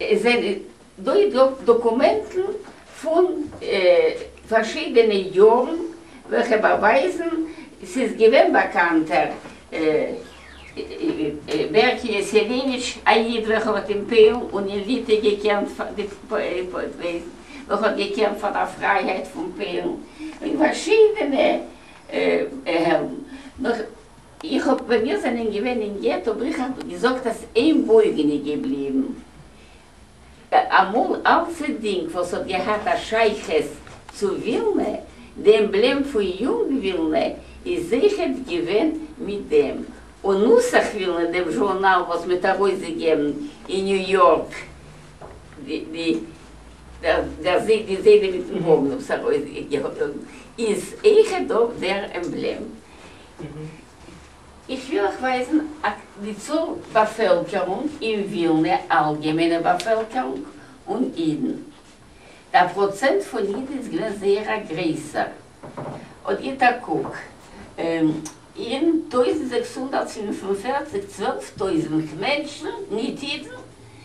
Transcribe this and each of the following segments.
עס זענען דא דאקומענטן פון פארשידענע יארן וועלכע באווייזן ס'איז געווען באקאנט ער בערק יעסעוויניטש א איד וועלכער האט אין פוילן און אין ליטע געקעמפט פאר די וועלכע האט געקעמפט פאר דער פרייהייט פון פוילן און פארשידענע העלדן נאך איך האב ווען מיר זענען געווען אין געטא בריכא געזאגט אז איין בויגן איז געבליבן אמאל אלס א דינג וואס האט געהאט א שייכות צו ווילנע, די עמבלעם פון יונג ווילנע איז זייכעט געווען מיט דעם, און נוסח ווילנע דעם זשורנאל וואס מ'האט ארויסגעגעבן אין ניו יארק די דער זי די זיידע מיטן האבן עס ארויסגעגעבן איז זייכעט דאך דער עמבלעם. איך וויל אייך ווייזן א ק די צאל באפעלקערונג אין ווילנע, אלגעמיינע באפעלקערונג און אידן. דער פראצענט פון אידן איז געווען זייער א גרעסער. אט גיט א קוק. אין טויזנט זעקס הונדערט פֿינף און פֿערציק צוועלף טויזנט מענטשן, ניט אידן,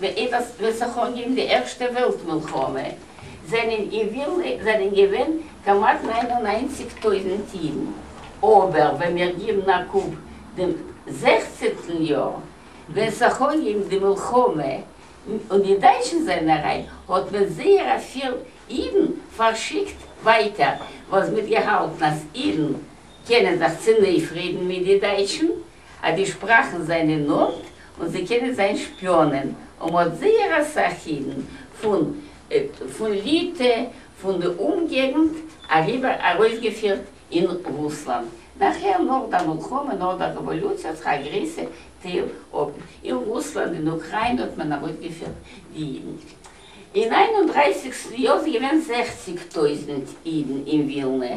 וועס וועט זיך אנגעבן די ערשטע וועלט מלחמה זענען געווען זענען געווען כמעט נײַן און נײַנציק טויזענט אידן אבער ווען מיר גיבן א קוק דעם זעכצענטן יאר ווען ס'האך אנגעהויבן די מלחמה און די דייטשן זענען אריין האט מען זייער אפיל אידן פארשיקט ווייטער וואס מ'האט געהאלטן אז אידן קענען זיך צונויפרעדן מיט די דייטשן אז די שפראכן זענען נאנט און זיי קענען זיין שפיאנען, און מ'האט זייער אסאך אידן פון ליטע פון די אומגעגנט אריבער ארויסגעפירט אין רוסלאנד, נאכהער נאך דער מלחמה נאך דער רעוואלוציע האט זיך א גרעסע טייל אפ אין רוסלאנד אין אוקריינע האט מען ארויסגעפירט די אידן אין איין און דרײַסיק יאר איז געווען זעכציק טויזנט אידן אין ווילנע.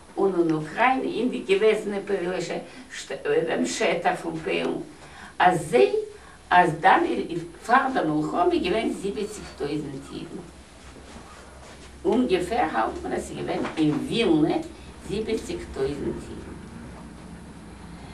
און און אוקריינע אין די געוועזענע פוילישע שטעט אויפן שטח פון פוילן אז זיי אז דאן איז פאר דער מלחמה געווען זיבעציג טויזענט אידן אומגעפער האלט מען אז ס'איז געווען אין ווילנע זיבעציג טויזענט אידן.